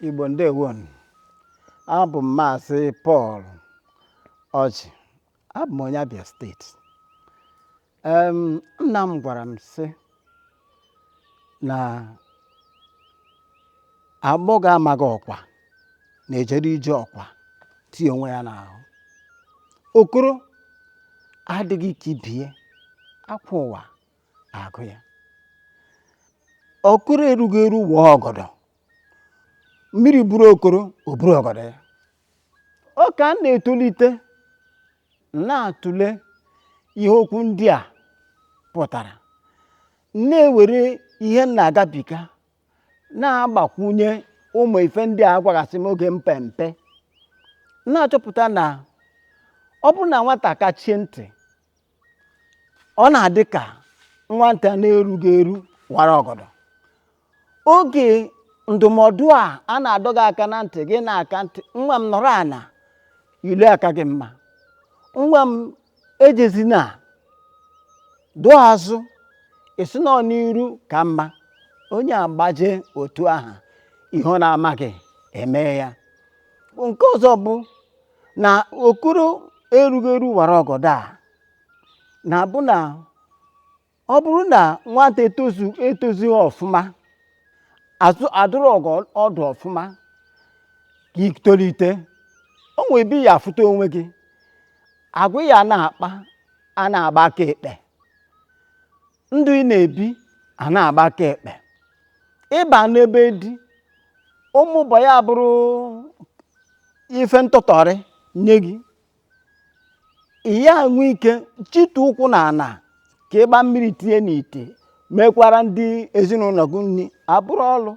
Igbo ndewonụ abụ m maazị Pọl Ọjị abụ m onye Abia steeti em nna m gwara m sị na agbọghọ amaghị ọkwa na-ejere ije ọkwa tie onwe ya n'ahụ okoro adịghị ka ibe ya akwa ụwa agụ ya okoro erughị eru waa ọgọdọ mmiri buru okoro o buru ọgọdọ ya ọ ka m na-etolite na-atụle ihe okwu ndị a pụtara na-ewere ihe m na-agabiga na-agbakwunye ụmụ ife ndị a gwagasị m oge mpe mpe na-achọpụta na ọ bụrụ na nwata kachie ntị ọ na-adị ka nwata na-erughị eru wara ọgọdọ oge ndụmọdụ a a na-adọ gị aka na ntị gị na-aka ntị nwa m nọrọ ana ilo aka gị mma nwa m ejezina dụọ azụ ị sị na ọ n'iru ka mma onye agbaje otu aha ihe ọ na-amaghị eme ya nke ọzọ bụ na okoro erughị eru wara ọgọdọ a na-abụ na ọ bụrụ na nwata etozu etozughị ọfụma azụ adụrọ gị ọdụ ọfụma ka i tolite o nwere ebe ị ya afụta onwe gị agwa ị ya na-akpa a na-agba aka ekpe ndụ ị na-ebi a na-agba aka ekpe ị ba na be di ụmụ ụbọ ya bụrụ ife ntụtọrị nye gị ị ya enwe ike chịtụ ụkwụ na ana ka ị gbaa mmiri tinye n'ite mekwara ndị ezinụlọ gị nri abụrụ ọlụ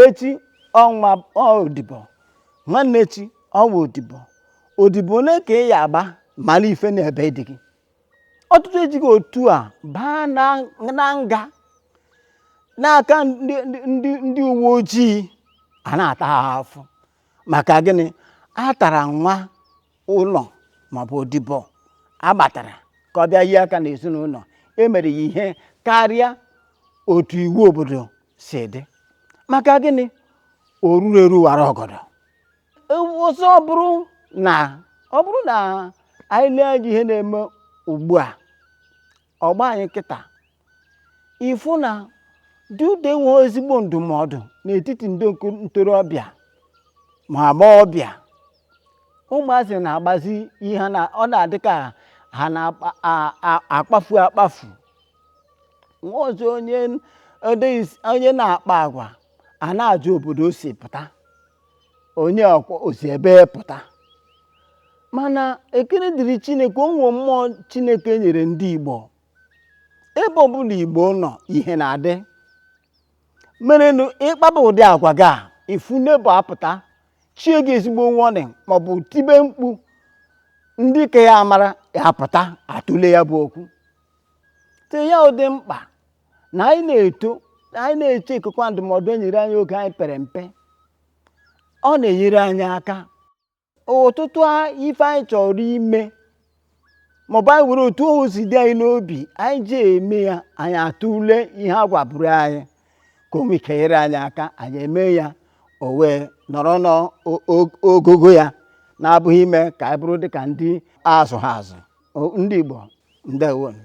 ị chọwa odibo nwanne ị chọwa odibo odibo ole ka ị ya agba mara ife n'ebe di gị ọtụtụ ejigo otu a baa na na nga n'aka ndị ndị- ndị ndị uwe ojii a na-ata ha afụfụ maka gịnị a tara nwa ụlọ maọbụ odibo a gbatara ka ọ bịa nye aka n'ezinụlọ e mere ya ihe karịa otu iwu obodo si dị maka gịnị o rurọ eru wara ọgọdọ ọzọ ọ bụrụ na ọ bụrụ na anyị lee anya ihe na-eme ugbu a ọgba anyị kịta ịfụ na ọ dị ụdị enweghị ezigbo ndụmọdụ n'etiti ndị ntorobịa ma agbọghọbịa ụmụazị na-agbazi ihe na ọ na-adị ka ha na-akpafu akpafu nwa ọzọ onye onye na-akpa agwa a na-ajụ obodo o si pụta onye o si ebee pụta mana ekele dịrị chineke o nwee mmụọ chineke nyere ndị igbo ebe ọbụla igbo nọ ihe na-adị merenụ ịkpaba ụdị agwa gị a ị fụ ndị igbo apụta chie gị ezigbo warning maọbụ tibe mkpu ndị ka ya amara ya apụta atụle ya bụ okwu te ya ọ dị mkpa na anyị na-eto anyị na-echekọkwa ndụmọdụ e nyere anyị oge anyị pere mpe ọ na-enyere anyị aka ọtụtụ a- ife anyị chọrọ ime maọbụ anyị were otu o si dị anyị n'obi anyị ji eme ya anyị atụle ihe a gwaburu anyị ka o nwee ike nyere anyị aka anyị eme ya o wee nọrọ n'ogogo ya na-abụghị ime ka anyị bụrụ dị ka ndị azụha azụ ndị Igbo ndewonụ